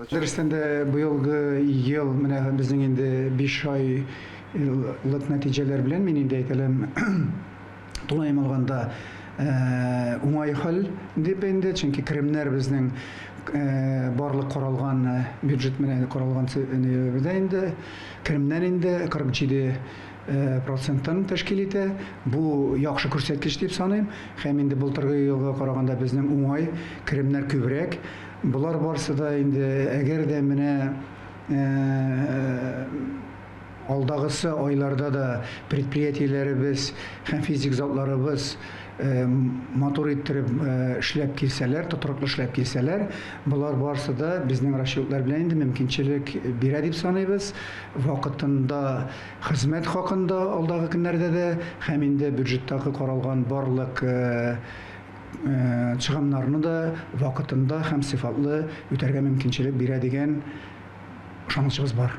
Дөрестән дә быелгы ел менә безнең инде биш айлык нәтиҗәләр белән мин инде әйтәләм, тулаем алганда уңай хәл дип инде, чөнки керемнәр безнең барлык каралган бюджет менә каралган нибездә инде керемнәр инде 47 проценттан тәшкил итә. Бу яхшы күрсәткеч дип саныйм һәм инде былтыргы елга караганда безнең уңай керемнәр күбрәк. Болар барсы да инде, әгәр дә менә алдагысы айларда да предприятиеләребез һәм физик затларыбыз матур иттереп эшләп килсәләр, тотрыклы эшләп килсәләр, болар барсы да безнең расчетлар белән инде мөмкинчелек бирә дип саныйбыз. Вакытында хезмәт хакында алдагы көннәрдә дә һәм инде бюджеттагы каралган барлык чыгымнарны да вакытында һәм сыйфатлы үтәргә мөмкинчелек бирә дигән ышанычыбыз бар.